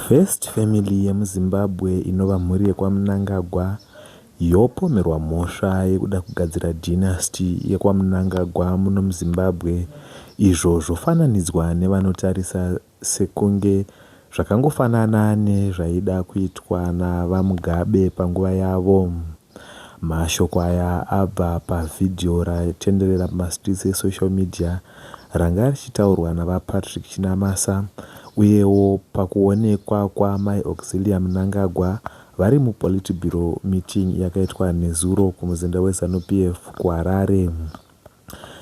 First family yemuZimbabwe inova mhuri yekwaMnangagwa yopomerwa mhosva yekuda kugadzira dynasty yekwaMnangagwa muno muZimbabwe izvo zvofananidzwa nevanotarisa sekunge zvakangofanana nezvaida kuitwa naVaMugabe panguva yavo. Mashoko aya abva pavhidhiyo ratenderera mumastreets esocial media ranga richitaurwa naVaPatrick Chinamasa uyewo pakuonekwa kwaAmai Auxillia Mnangagwa vari muPolitburo meeting yakaitwa nezuro kumuzinda weZanu PF kuHarare.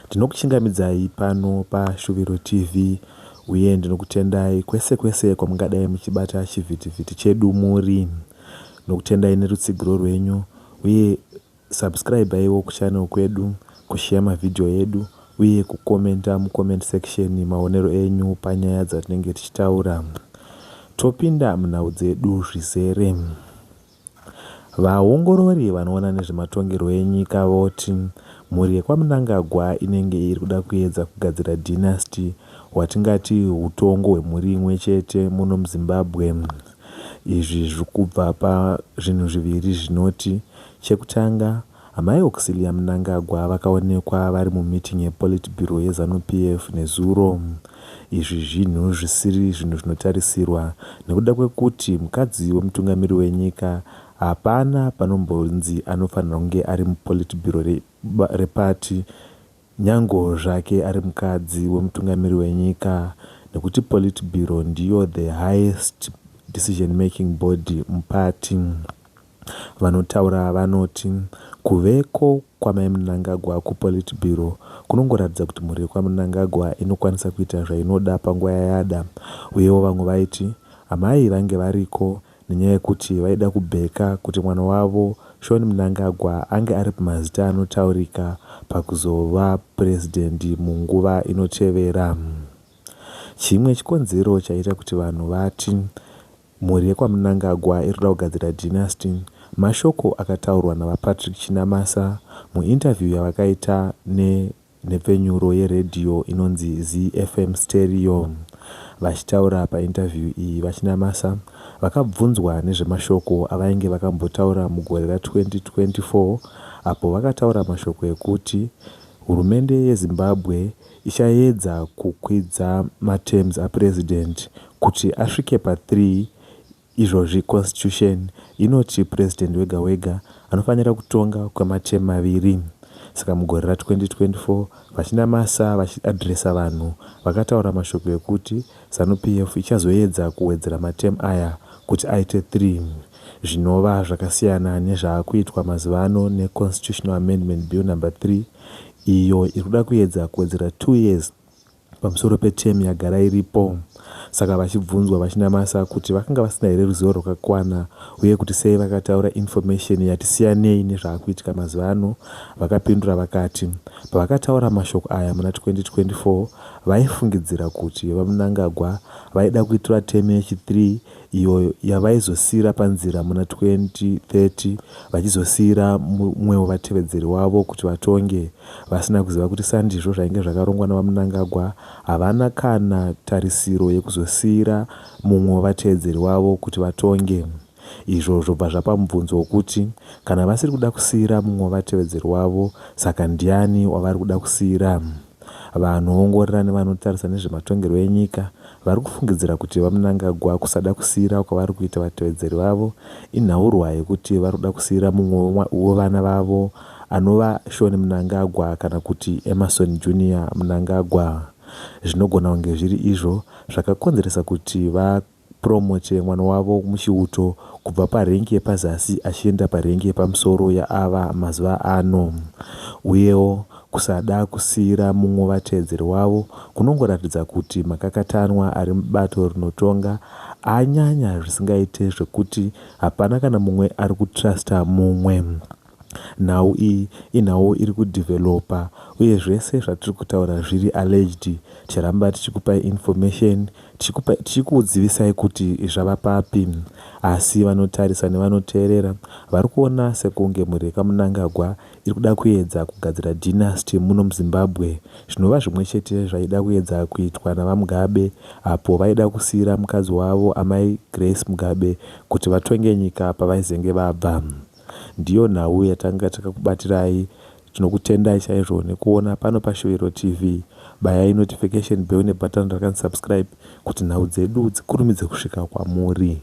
Ndinokuchingamidzai pano paShuviro TV uye ndinokutendai kwese kwese kwamungadai muchibata chivhitivhiti chedu muri. Ndinokutendai nerutsigiro rwenyu uye subscribaiwo kuchannel kwedu, kusheya mavhidhiyo edu uye kukomenta mucomment section maonero enyu panyaya dzatinenge tichitaura. Topinda munhau dzedu zvizere. Vaongorori vanoona nezvematongerwo enyika voti mhuri yekwaMnangagwa inenge iri kuda kuedza kugadzira dynasty hwatingati hutongo hwemhuri imwe chete muno muZimbabwe. Izvi zviri kubva pazvinhu zviviri zvinoti chekutanga Amai Auxillia Mnangagwa vakaonekwa vari mumeeting yePolitburo yeZanu-PF nezuro. Izvi zvinhu zvisiri zvinhu zvinotarisirwa nekuda kwekuti mukadzi wemutungamiri wenyika hapana panombonzi anofanirwa kunge ari muPolitburo reparty nyango zvake ari mukadzi wemutungamiri wenyika nekuti Politburo ndiyo the highest decision making body muparty. Vanotaura ava vanoti kuveko kwaMai Mnangagwa kuPolitburo kunongoratidza kuti mhuri yekwaMnangagwa inokwanisa kuita zvainoda panguva yayada uyewo vamwe vaiti amai vange variko nenyaya yekuti vaida kubheka kuti mwana wavo Shaun Mnangagwa ange ari pamazita anotaurika pakuzova purezidendi munguva inotevera. Chimwe chikonzero chaita kuti vanhu vati Mhuri yekwaMnangagwa iri kuda kugadzira dynasty, mashoko akataurwa naVaPatrick Chinamasa muinterview yavakaita nenhepfenyuro yeredhiyo inonzi ZeeFM Stereo. Vachitaura painterview iyi, VaChinamasa vakabvunzwa nezvemashoko avainge vakambotaura mugore ra 2024 apo vakataura mashoko ekuti hurumende yeZimbabwe ichaedza kukwidza materms aPresident kuti asvike pa 3 izvozvi Constitution inoti President wega wega anofanira kutonga kwematerm maviri saka mugore ra 2024 VaChinamasa vachi addresser vanhu vakataura mashoko ekuti Zanu PF ichazoedza kuwedzera materm aya kuti aite 3 zvinova zvakasiyana nezvaakuitwa mazuva ano neConstitutional Amendment Bill number 3 iyo iri kuda kuedza kuwedzera two years pamusoro peterm yagara iripo. Saka vachibvunzwa vaChinamasa kuti vakanga vasina here ruzivo rwakakwana uye kuti sei vakataura information yati siyanei nezvaakuitika mazuva ano, vakapindura vakati pavakataura mashoko aya muna 2024 vaifungidzira kuti VaMnangagwa vaida kuitirwa term yechi-three iyo yavaizosiira panzira muna 2030 vachizosiira mumwewo vatevedzeri wavo kuti vatonge vasina kuziva kuti sandizvo zvainge zvakarongwa naVaMnangagwa havana kana tarisiro yekuzosiira mumwe wevatevedzeri wavo kuti vatonge izvo zvobva zvapa mubvunzo wokuti kana vasiri kuda kusiira mumwe wevatevedzeri wavo saka ndiani wavari kuda kusiira Vanoongorora nevanotarisa nezvematongerwo enyika vari kufungidzira kuti VaMnangagwa kusada kusiira kwavari kuita vatevedzeri vavo inhaurwa yekuti vari kuda kusiira mumwe wevana vavo anova Shawn Mnangagwa kana kuti Emmerson Junior Mnangagwa zvinogona kunge zviri izvo zvakakonzeresa kuti va Promo che mwana wavo muchiuto kubva parengi yepazasi achienda parengi yepamusoro yaava mazuva ano. Uyewo, kusada kusiira mumwe vatevedzeri wavo kunongoratidza kuti makakatanwa ari mubato rinotonga anyanya zvisingaite zvekuti hapana kana mumwe ari kutruster mumwe. Nhau iyi inhau iri kudeveloper uye zvese zvatiri kutaura zviri alleged ticharamba tichikupai information tichikupai tichikudzivisai kuti zvava papi asi vanotarisa nevanoteerera vari kuona sekunge mhuri yekamunangagwa iri kuda kuedza kugadzira dynasty muno muzimbabwe zvinova zvimwe chete zvaida kuedza kuitwa navamugabe apo vaida kusiira mukadzi wavo amai grace mugabe kuti vatonge nyika pavaizenge vabva Ndiyo nhau yatanga takakubatirai tinokutendai chaizvo nekuona pano pa Shuwiro TV bayai notification bell ne button ra kan subscribe kuti nhau dzedu dzikurumidze kusvika kwamuri.